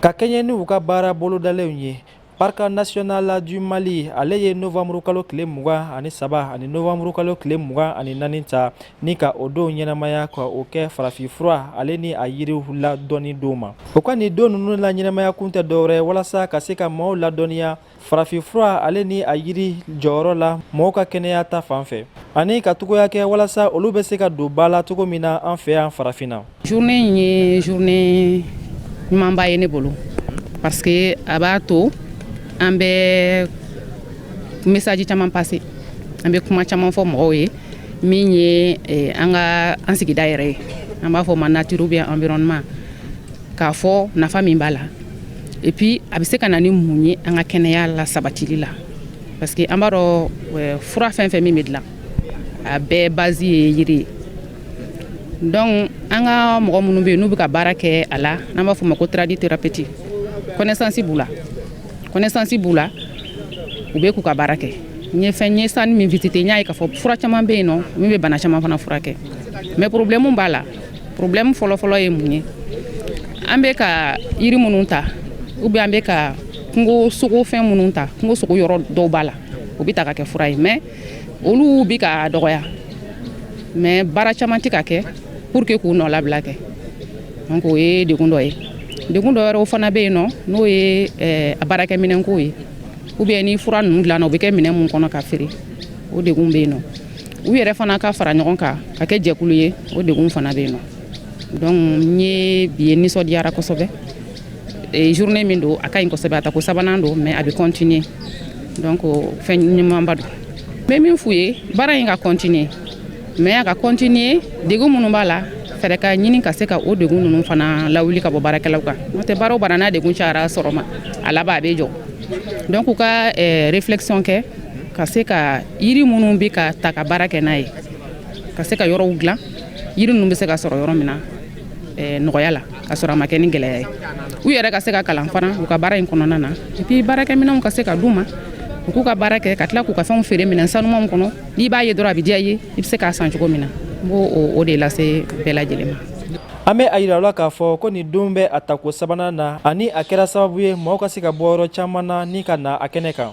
ka kɛɲɛ ni u ka baara bolodalenw ye parc national du mali ale ye novamburu kalo tile mugan ani saba ani novamburu kalo tile mugan ani naani ta ni ka o don ɲɛnamaya ka o kɛ farafinfura ale ni a yiriw ladɔnni don ma o ka nin don ninnu la ɲɛnamaya kun tɛ dɔwɛrɛ walasa ka se ka maaw ladɔnniya farafinfura ale ni a yiri jɔyɔrɔ la mɔgɔw ka kɛnɛya ta fan fɛ ani ka togoya kɛ walasa olu bɛ se ka don ba la cogo min na an fɛ yan farafinna journée in ye journée ɲumanba ye ne bolo parce que a b'a to an bɛ message caman passer an bɛ kuma caman fɔ mɔgɔw ye min ye eh, an ka an sigida yɛrɛ ye an b'a fɔ ma nature ou bien environnement k'a fɔ nafa min b'a la et puis a bɛ se ka na ni mun ye an ka kɛnɛya la sabatili la parce que an b'a dɔn euh, fura fɛn fɛn min bɛ dilan a bɛɛ base ye yiri ye donc an ka mɔgɔ minnu bɛ yen n'u bɛ ka baara kɛ a la n'an b'a fɔ o ma ko tradithérapeute connaissance b'u la connaissance b'u la u bɛ k'u ka baara kɛ n ye fɛn n ye stand min visiter n y'a ye k'a fɔ fura caman bɛ yen nɔ min bɛ bana caman fana furakɛ mais problème b'a la problème fɔlɔfɔlɔ ye mun ye an bɛ ka yiri minnu ta ou bien an bɛ ka kungo sogo fɛn minnu ta kungo sogo yɔrɔ dɔw b'a la o bɛ ta ka kɛ fura ye mais olu bɛ ka dɔgɔya mais baara caman tɛ ka kɛ pour que k'u nɔlabila kɛ donc o ye degun dɔ ye degun dɔ wɛrɛw fana bɛ yen nɔ n'o ye eh, a baarakɛminɛnko ye ou bien ni fura ninnu dilanna o bɛ kɛ minɛn mun kɔnɔ ka feere o degun bɛ yen nɔ u yɛrɛ fana ka fara ɲɔgɔn kan ka kɛ jɛkulu ye o degun fana bɛ yen nɔ donc n ye bi ye nisɔndiyara kosɛbɛ eh, journée min don a ka ɲi kosɛbɛ a tako sabanan don mais a bɛ continuer donc fɛn ɲumanba don n bɛ min f'u ye baara in ka continuer mais a ka continuer degun minnu b'a la fɛɛrɛ ka ɲini ka se ka o degun ninnu fana lawuli ka bɔ baarakɛlaw kan n'o tɛ baara o baara n'a degun cayara sûrement a laban a bɛ jɔ donc u ka eh, réflexion kɛ ka se ka yiri minnu bɛ ka ta ka baara kɛ n'a ye ka se ka yɔrɔw dilan yiri ninnu bɛ se ka sɔrɔ yɔrɔ min na eh, nɔgɔya la ka sɔrɔ a ma kɛ ni gɛlɛya ye u yɛrɛ ka se ka kalan fana u ka baara in kɔnɔna na et puis baarakɛminɛnw ka se ka d'u ma u k'u ka baara kɛ ka tila k'u ka fɛnw feere minɛn sanumanw kɔnɔ n'i b'a ye dɔrɔn a bɛ diya i ye i bɛ se k'a san cogo min na n b'o o de lase bɛɛ lajɛlen ma an bɛ a yira la k'a fɔ ko nin don bɛ a tako sabanan na ani a kɛra sababu ye mɔgɔw ka se ka bɔ yɔrɔ caman na ni ka na a kɛnɛ kan